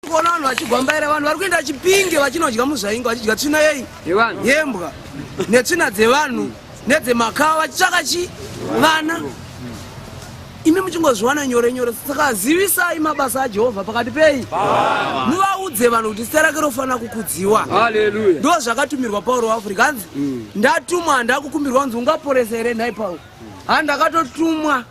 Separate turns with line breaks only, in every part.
kuona vanhu vachigwambaira vanhu vari kuenda chipinge vachinodya muzvainga vachidya tsvina yei yembwa netsvina dzevanhu nedzemakawa vachitsvaka chi vana imi muchingozviwana nyore nyore saka zivisai mabasa ajehovha pakati pei muvaudze vanhu kuti zita rake rofanira kukudziwa ndo
zvakatumirwa
pauro waafrica hanzi mm. ndatumwa handakukumbirwa kunzi ungaporesa here nhai pauro handakatotumwa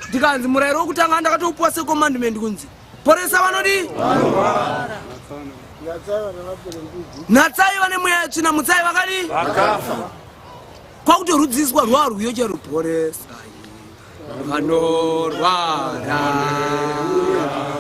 ndikanzi murayiro wekutanga ndakatoupuwa secommandment kunzi poresa vanodii natsai vane mweya tsvina mutsai vakadii kwakutorudziswa rwaa rwiyo chero poresa vanorwara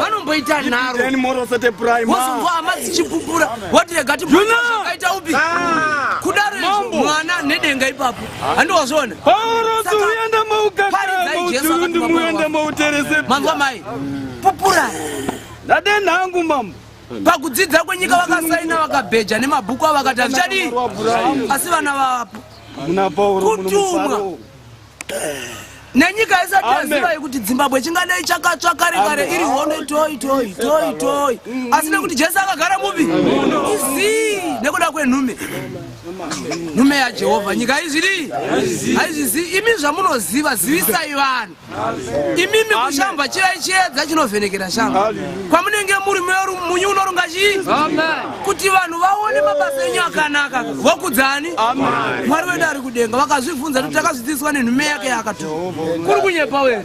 vanomboita nharowozonzwa hama dzichipupura wati rega tiaita upi ah. kudaro izvo mwana nedenga ipapo handi wazviona manzwa mai pupura ndadenhangu
mambo pakudzidza
kwenyika vakasaina vakabheja nemabhuku avakati hazvichadii asi vana vapo kutumwa nenyika isati yaziva yekuti dzimbabwe chingadai chakatsva kare kare iri hondo toi toi toi toi asi nekuti jesu akagara mupi izii nekuda kwenhume nhume yajehovha nyika haizviri haizvizi imi zvamunoziva zivisai vanhu imimi kushamba chivai chiedza chinovhenekera shamba kwamunenge muri munyu unorunga chii kuti vanhu vaone mabasa enyu akanaka wakudzani mwari wedu ari kudenga vakazvibvunza kuti takazvidzidziswa nenhume yake yaakatuma kuri kunyepa were